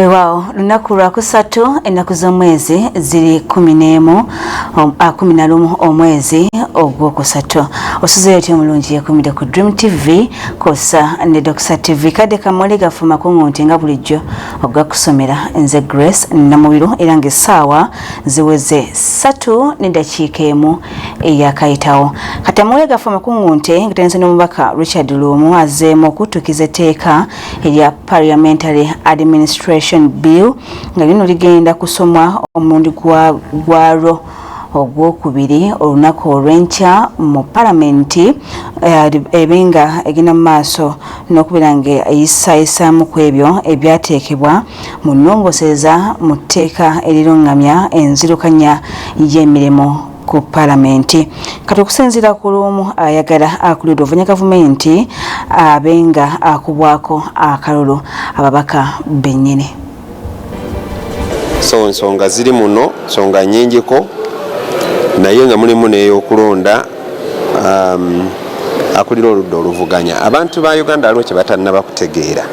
weewaawo lunaku lwakusatu ennaku z'omwezi ziri kumi n'emu um, ah, kumi na lumu omwezi ogwokusatu osuzeyo otya omulungi yekumire ku dream tv kosa ne doxa tv kadde kamuli gafuma kuŋunti nga bulijjo ogakusomera nze grace namubiru era nga essaawa ziweze satu n'eddakiika emu eyakayitawo katamuwe gafa amakungu nte ngatenze n'omubaka richard luumu azzeemu okuttukiza etteeka erya parliamentary administration bill nga lino ligenda kusomwa omulundi gwalwo ogwokubiri olunaku olw'enkya mu palamenti eh, ebe nga egenda mu maaso n'okubeera ng'eyisayisaamu ku ebyo ebyateekebwa mu nnongosereza mu tteeka erirungamya enzirukanya y'emirimu ku palamenti kati okusinziira ku lumu ayagala akulidwa ovanya gavumenti abe nga akubwako akalulu ababaka bennyini so nsonga ziri muno nsonga nyingiko naye nga mulimu neyokulonda um, akulira oludda oluvuganya abantu ba uganda aliwo kyebatannaba kutegeera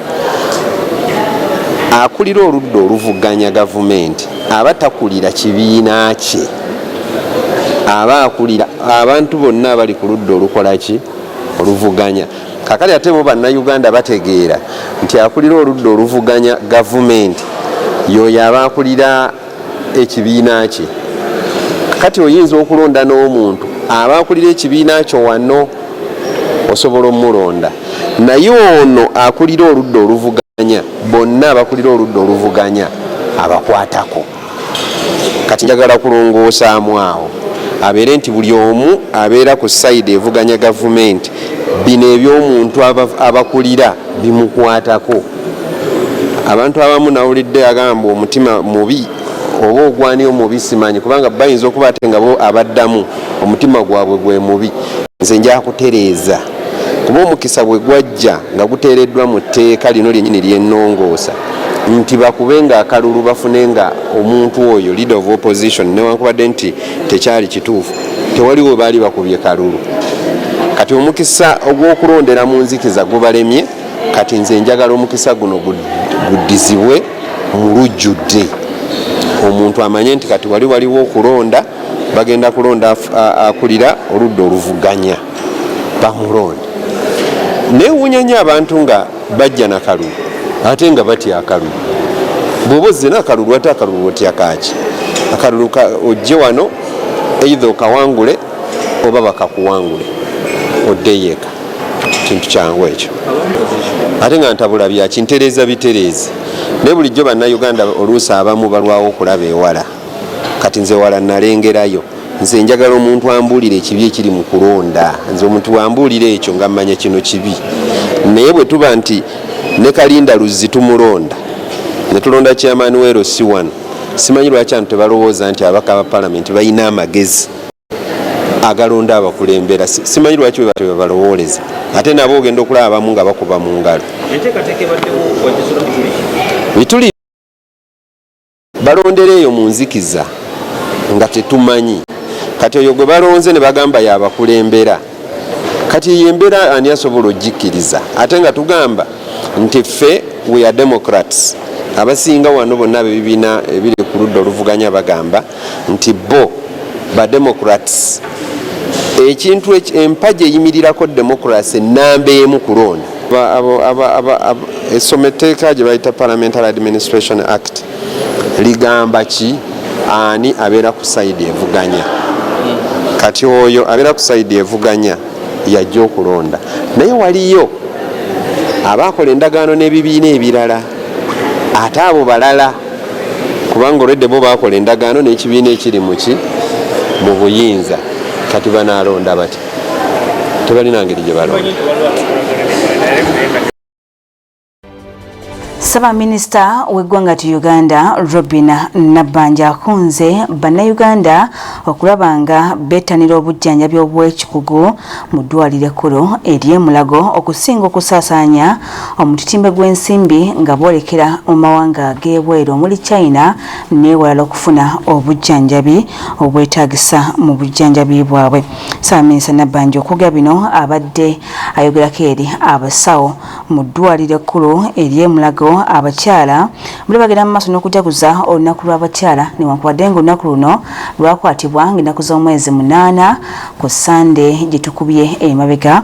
akulira oludda oluvuganya gavumenti aba takulira kibiina kye aba akulira abantu bonna abali ku ludda olukolaki oluvuganya kakati ate bo bannayuganda bategeera nti akulira oludda oluvuganya gavumenti yoyo aba akulira ekibiina kye kati oyinza okulonda n'omuntu aba akulira ekibiina kyo wano osobola omulonda naye ono akulira oludda oluvuganya bonna abakulira oludda oluvuganya abakwatako kati njagala kulongoosaamu awo abeere nti buli omu abeera ku sayidi evuganya gavumenti bino ebyomuntu abakulira bimukwatako abantu abamu nawulidde agamba omutima mubi oba ogwani omubi simanyi kubanga bayinza okuba ate nga bo abaddamu omutima gwabwe gwe mubi nze njakutereeza kuba omukisa bwe gwajja nga guteereddwa mu tteeka lino lyenyini lyenongoosa nti bakube nga akalulu bafune nga omuntu oyo leader of opposition newankubadde nti tekyali kituufu tewaliwo baali bakubye kalulu kati omukisa ogw'okulondera mu nzikiza gubalemye kati nze njagala omukisa guno guddizibwe mu lujjudde omuntu amanye nti kati wali waliwo okulonda bagenda kulonda akulira oludda oluvuganya bamulonda newunya nyo abantu nga bajja nakalulu ate nga batya akalulu bwoba ozina akalulu ate akalulu otya kaki akalulu ojje wano eitha okawangule oba bakakuwangule oddeyo eka kintu kyangu ekyo ate nga ntabula byaki ntereeza bitereezi naye bulijjo bannayuganda oluusi abamu balwawo okulaba ewala kati nze wala nalengerayo nze njagala omuntu ambuulire ekibi ekiri mu kulonda nze omuntu wambuulira ekyo nga mmanya kino kibi naye bwe tuba nti ne kalinda luzzi tumulonda ne tulonda kyamaani weero si wano simanyi lwaki antu tebalowooza nti abaka ba palamenti balina amagezi agalonda abakulembera simanyi lwaki webatyo bebalowooleza ate nabo ogenda okulaba abamu nga bakuba mu ngalo bituli balondera eyo mu nzikiza nga tetumanyi kati oyo gwe balonze ne bagamba yabakulembera kati eyo embeera ani asobola ogikkiriza ate nga tugamba nti ffe we are democrats abasinga wano bonna bebibiina ebiri ku ludda oluvuganya bagamba nti bo ba democrats ekintu empagi eyimirirako democracy namba emu kulonda esoma etteeka gye bayita parliamentary administration act ligamba ki ani abeera ku saidi evuganya kati oyo abeera ku saidi evuganya yajja okulonda naye waliyo abaakola endagaano n'ebibiina ebirala ate abo balala kubanga olwedde bo bakola endagaano n'ekibiina ekiri muki mu buyinza kati banaalonda bati tebalina ngeri gye balonda Ssaabaminisita w'eggwanga ti Uganda Robin Nabbanja akunze Bannayuganda okulaba nga bettanira obujjanjabi obw'ekikugu mu ddwaliro ekkulu ery'e Mulago okusinga okusaasaanya omutitimbe gw'ensimbi nga boolekera mu mawanga g'ebweru omuli China n'ewalala okufuna obujjanjabi obwetaagisa mu bujjanjabi bwabwe. Ssaabaminisita Nabbanja okwogera bino abadde ayogerako eri abasawo mu ddwaaliro ekkulu ery'e Mulago abakyala buli bagenda mu maaso n'okujaguza olunaku lw'abakyala newankubadde ng'olunaku luno lwakwatibwa ng'ennaku z'omwezi munaana ku Ssande gye tukubye emabega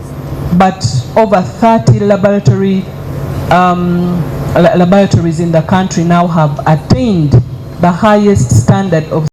But over 30 laboratory um, laboratories in the country now have attained the highest standard of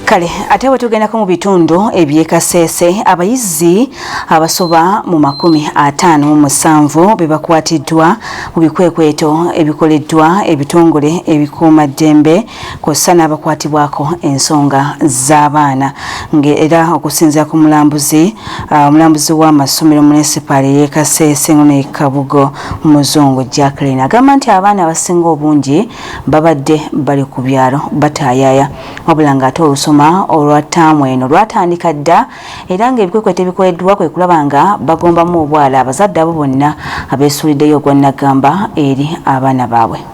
kale ate bwe tugendako mu bitundu eby'ekasese abayizi abasoba mu makumi ataano mu musanvu be bakwatiddwa mu bikwekweto ebikoleddwa ebitongole ebikuuma ddembe kw'ossa n'abakwatibwako ensonga z'abaana ng'era okusinzira ku mulambuzi uh, omulambuzi w'amasomero munisipaali ey'e kaseese ngono e kabugo muzungu jacklin agamba nti abaana abasinga obungi babadde bali ku byalo bataayaaya wabula ng'ate olusoma olwa taamu eno lwatandika dda era ng'ebikwekweto ebikoleddwa kwe kulaba nga bagombamu obwala abazadde abo bonna abeesuuliddeyo ogwannagamba eri abaana baabwe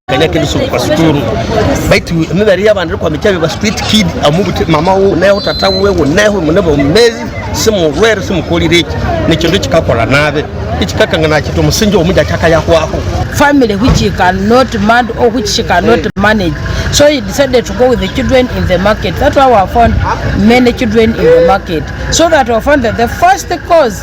kanyake bisubu kwa sukuru baitu mibari y'abantu ariko hamicabe ba street kid amubute mama wo naho tata we wo naho munebo mezi simu rwero simu kolireki nicho ndo kikakora nabe ichikaka ngana kitu musinjo omuja chaka yakwako family which he cannot man or which she cannot manage so he decided to go with the children in the market that's why we found many children in the market so that we found that the first cause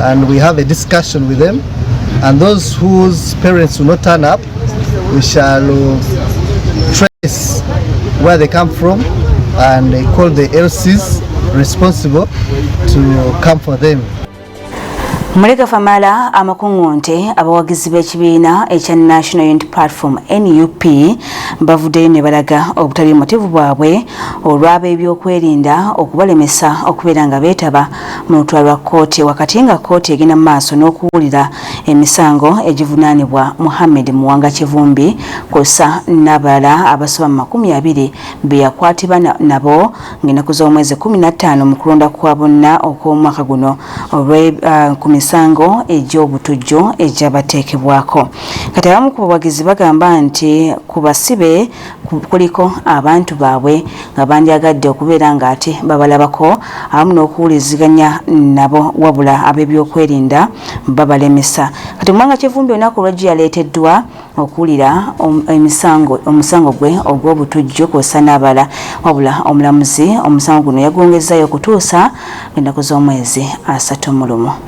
and we have a discussion with them and those whose parents will not turn up we shall trace where they come from and call the LCs responsible to come for them Mulega Famala amakungunte abawagizi b'ekibiina ekya National Unity Platform NUP bavuddeyo ne balaga obutali mutivu bwabwe olw'ab'ebyokwerinda okubalemesa okubeera nga beetaba mu lutula lwa kkooti wakati nga kkooti egenda mu maaso n'okuwulira emisango egivunaanibwa Muhammed Muwanga Kivumbi kw'ossa n'abalala abasoba mu makumi abiri be yakwatibwa nabo ng'ennaku z'omwezi kkumi na ttaano mu kulonda kwa bonna okw'omwaka guno olwe uh, ku misango egy'obutujju egyabateekebwako kati abamu ku bawagizi bagamba nti ku basibe kuliko abantu baabwe nga bandyagadde okubeera ng'ate babalabako awamu n'okuwuliziganya nabo wabula ab'ebyokwerinda babalemesa kati omwanga kivumbi olunaku olwajjo yaleeteddwa okuwulira emisango omusango gwe ogw'obutujju kwosa n'abala wabula omulamuzi omusango guno yagwongezzayo okutuusa ennaku z'omwezi asatu mu lumu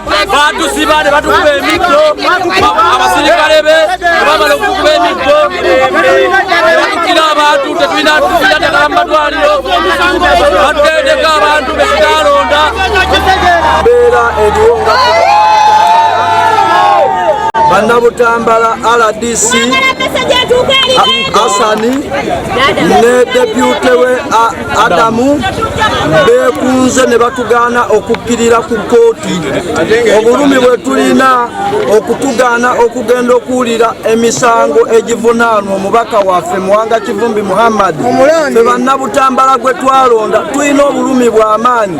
batusiba ne batukuba emiggo abasirikale be bamala okukuba emiggo batukira abantu tetulina tufira ddagala mu matwaliro batutendeka abantu bekitalonda beera eriwo nga bannabutambala rdc asani ne depute we Adamu beekunze ne batugaana okukkirira ku kkooti obulumi bwe tulina okutugaana okugenda okuwulira emisango egivunaanwa omubaka waffe muwanga kivumbi muhammadi fe bannabutambala gwe twalonda tulina obulumi bw'amaanyi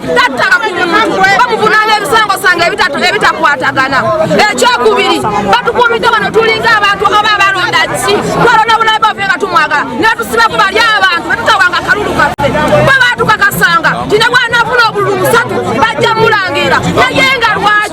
tattaka ku muntu bamuvunaana ebisango sange ebitakwatagana ekyokubiri batukuumidde wano tulinga abantu oba abalonda ki twalonda bulabe bafe nga tumwagala natusiba ku bali abantu batutawanga akalulu kaffe bwe batukakasanga tine bwanafuna obululu musatu bajja mulangira naye nga lwaki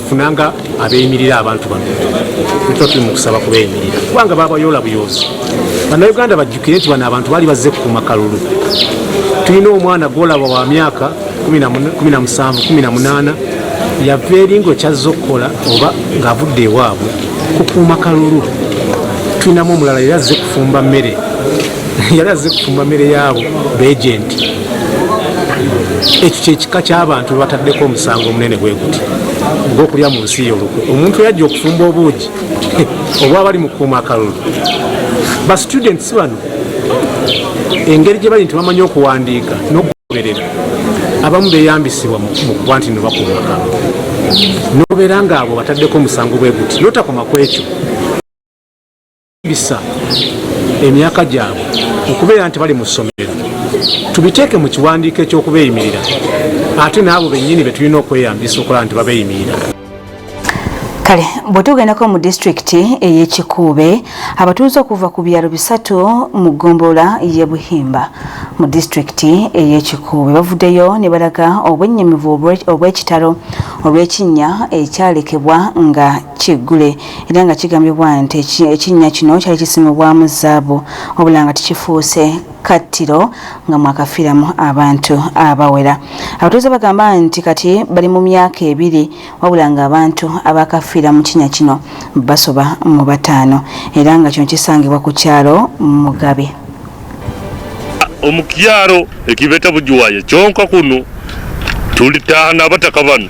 funanga abeyimirira abantu bano tuba tuli mukusaba kubeyimirira kubanga babayoola buyoozi banauganda bajjukire nti bano abantu bali bazze kukuuma kalulu tulina omwana gwolaba wa myaka 1718 yava eringa okyazza okukola oba ngaavudde ewaabwe kukuuma kalulu tulinamu omulala yali azze kufumba mmere yali azze kufumba mmere yaabo beegenti ekyo kyekika kyabantu bebataddeko omusango omunene bweguti ogwokulya mu nsi yo olukwe omuntu yajja okufumba obuugi obwabali mu kuuma akalulu ba students bano engeri gye bali nti bamanyi okuwandiika n'okugoberera abamu beyambisibwa mu kuba nti nebakuuma akalulu nobeera ngaabo bataddeko omusango bweguti notakoma kwekyo bisa emyaka gyabwe okubeera nti bali mu ssomero tubiteeke mu kiwandiiko eky'okubeeyimirira ate n'abo bennyini be tulina okweyambisa okulaba nti babeeyimirira kale bwetugendako mu disitulikiti ey'ekikuube abatuuze okuva ku byalo bisatu mu ggombolola ye buhimba mu disitulikiti ey'ekikuube bavuddeyo ne balaga obwennyamivu obw'ekitalo olw'ekinnya ekyalekebwa nga Kiggule era nga kigambibwa nti ekinnya kino kyali kisimibwamu zaabu wabula nga tekifuuse kattiro nga mwakafiiramu abantu abawera. Abatuuze bagamba nti kati bali mu myaka ebiri wabula ng'abantu abakafiira mu kinnya kino basoba mu bataano era nga kino kisangibwa ku kyalo Mugabe. Omukyalo ekibeta bujuwaye kyonka kuno tulitaana abataka bano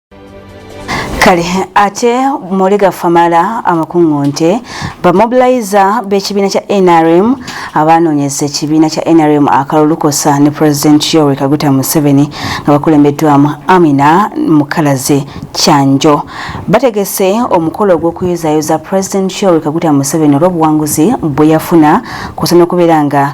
kale ate muli gafamala amakungu nti bamobiliza b'ekibiina kya nrm abanoonyeza ekibiina kya nrm akalulukosa ne president yoweri kaguta museveni nga bakulembeddwamu amina mukalazi kyanjo bategese omukolo ogw'okuyozaayoza president yoweri kaguta museveni olw'obuwanguzi bwe yafuna kusa n'okubeera nga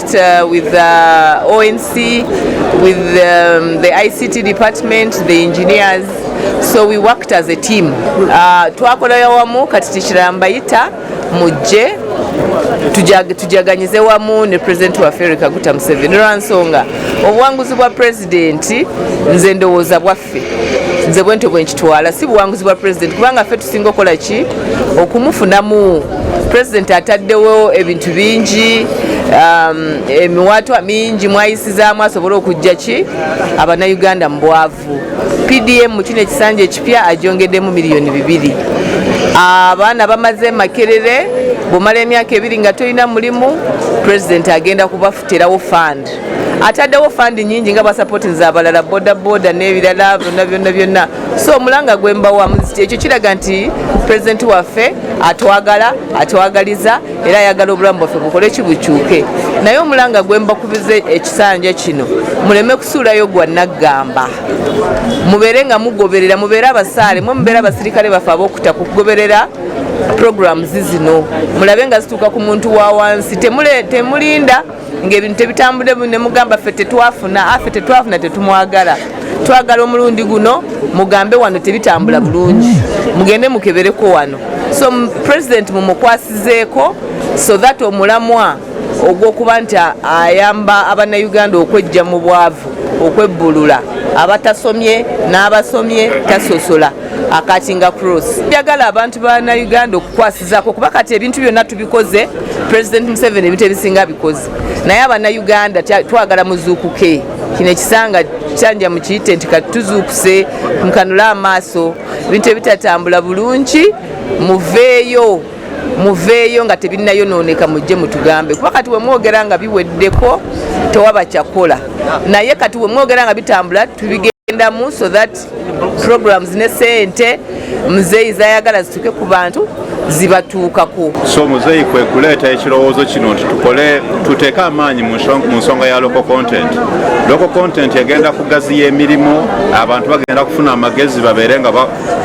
Uh, with the uh, ONC, with um, the ICT department, the engineers. So we worked as a team. Uh, twakolayo wamu kati tikirala mbayita mujje tujaganyize wamu ne president wa Africa Kaguta Museveni olwansonga obuwanguzi bwa president nze ndowooza bwa ffe nze bwentyo bwenkitwala si buwanguzi bwa pulezidenti kubanga ffe tusinga okukola ki okumufunamu pulezidenti ataddewo ebintu bingi um, emiwaatwa mingi mwayisizaamu asobole okujja ki abanauganda mu bwavu pdm mu kino ekisanja ekipya ajongeddemu miliyoni bibiri abaana bamaze makerere bwomala emyaka ebiri nga tolina mulimu pulezidenti agenda kubafutirawo fund ataddewo fandi nyingi nga basapotinza abalala bodaboda n'ebirala byonna byonna byonna so omulanga gwembawa ekyo kiraga nti pulezidenti waffe atwagala atwagaliza era ayagala obulamu bwaffe bukole kibukyuke naye omulanga gwembakubiza ekisanja kino muleme kusuulayo gwa naggamba mubeere nga mugoberera mubeere abasaale mwe mubeere abasirikale baffe ab'okuta kugoberera programs zino mulabe nga zituuka ku muntu wa wansi temulinda ng'ebintu tebitambudde bu ne mugamba ffe tetwafuna afe ah, tetwafuna tetumwagala twagala omulundi guno mugambe wano tebitambula bulungi mugende mukebereko wano so president mumukwasizeeko so that omulamwa ogwokuba nti ayamba abannayuganda okwejja mu bwavu okwebbulula abatasomye n'abasomye tasosola akatinga cross njagala abantu ba nauganda okukwasa zako kuba kati ebintu byonna tubikoze president museveni ebintu ebisinga bikoze naye abana uganda twagala muzuukuke kino ekisanga kyanja mukiyite nti kati tuzuukuse mukanule amaaso ebintu ebitatambula bulungi muveeyo muveeyo nga tebinnayonooneka mujje mutugambe kuba kati wemwogera nga biweddeko tewaba kyakola naye kati wemwogera nga bitambula tubigendamu so that programs ne sente muzeeyi zayagala zituuke ku bantu zibatuukako so muzeeyi kwe kuleeta ekirowoozo kino nti tukole tuteeke amaanyi mu nsonga ya local content local content egenda kugaziya emirimu abantu bagenda kufuna amagezi babeere nga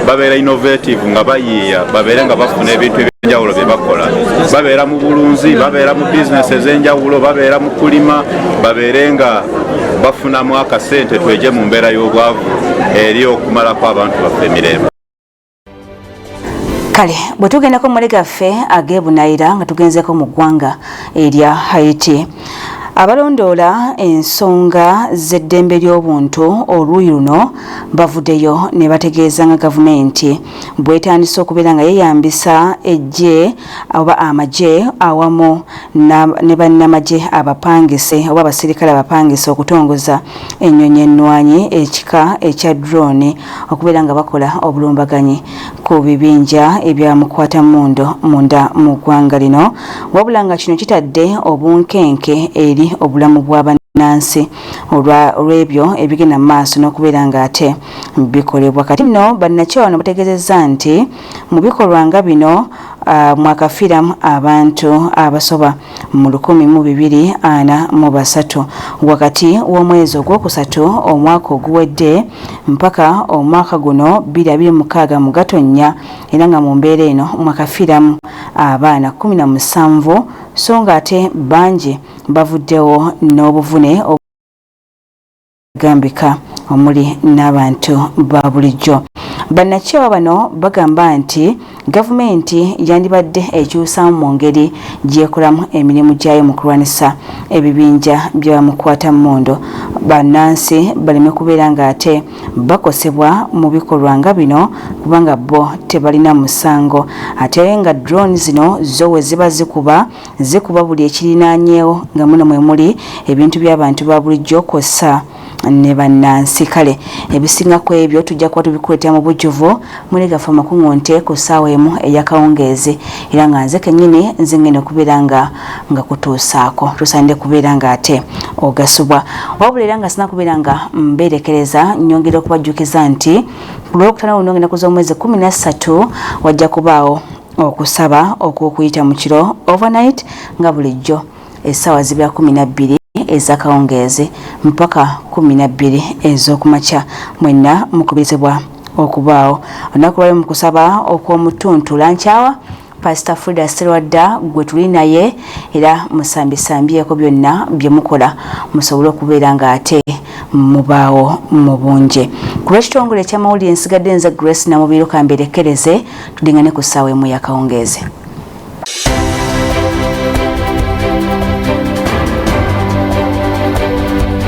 babeera innovative nga bayiiya babeere nga bafuna ebintu ebyenjawulo bye bakola babeera mu bulunzi babeera mu bizinesi ez'enjawulo babeera mu kulima babeere nga bafunamu akasente tweje mu mbeera y'obwavu eri okumalako abantu baffe emirembe kale bwe tugendako mumale gaffe ageebunayira nga tugenzeko mu ggwanga erya haiti abalondoola ensonga z'eddembe ly'obuntu oluuyi luno bavuddeyo ne bategeeza nga gavumenti bwetandise okubeera nga yeyambisa eggye oba amagye awamu ne bannamagye abapangise oba abasirikale abapangise okutongoza ennyonyi ennwanyi ekika ekya drone okubeera nga bakola obulumbaganyi ku bibinja ebya mukwata mundo munda mu ggwanga lino wabula nga kino kitadde obunkenke eri obulamu bwa bannansi olw'ebyo ebigenda mu maaso n'okubeera ng'ate bikolebwa kati nno bannakyewa no bategeezezza nti Mu bikolwa nga bino mwakafiiramu abantu abasoba mu lukumi mu bibiri ana mu basatu wakati w'omwezi ogwokusatu omwaka oguwedde mpaka omwaka guno bbiri abiri mukaaga mu Gatonnya era nga mu mbeera eno mwakafiiramu abaana kumi na musanvu so ng'ate bangi bavuddewo n'obuvune gambika omuli n'abantu ba bulijjo bannakyewa bano bagamba nti gavumenti yandibadde ekyusaamu mu ngeri gyekolamu emirimu gyayo mu kulwanisa ebibinja byabamukwata mmundu bannansi baleme kubeera ng'ate bakosebwa mu bikolwa nga bino kubanga bo tebalina musango ate nga drone zino zo we ziba zikuba zikuba buli ekirinaanyeewo nga muno mwe muli ebintu by'abantu ba bulijjo kw'ossa ne bannansi kale ebisinga ku ebyo tujja kuba tubikuleetera mu bujjuvu muli gaffe amakuŋŋunte ku ssaawa emu ey'akawungeezi era nga nze kennyini nze ngenda okubeera nga nga kutuusaako tusaanide kubeera ng'ate ogasubwa wabula era nga sina kubeera nga mbeerekereza nnyongera okubajjukiza nti ku lwokutana luno ngenda kuza omwezi kumi na ssatu wajja kubaawo okusaba okw'okuyita mu kiro overnight nga bulijjo essaawa zibira kumi na bbiri ez'akawungeezi mpaka kumi na bbiri ez'okumakya mwenna mukubirizibwa okubaawo olunaku lwayo mu kusaba okw'omutuntu lankyawa pasita frida serwadda gwe tuli naye era musambisambyeko byonna bye mukola musobole okubeera ng'ate mubaawo mu bungi ku lw'ekitongole eky'amawulire nsigadde nze grace namubiiruka mberekereze tudingane ku ssaawa emu yakawungeezi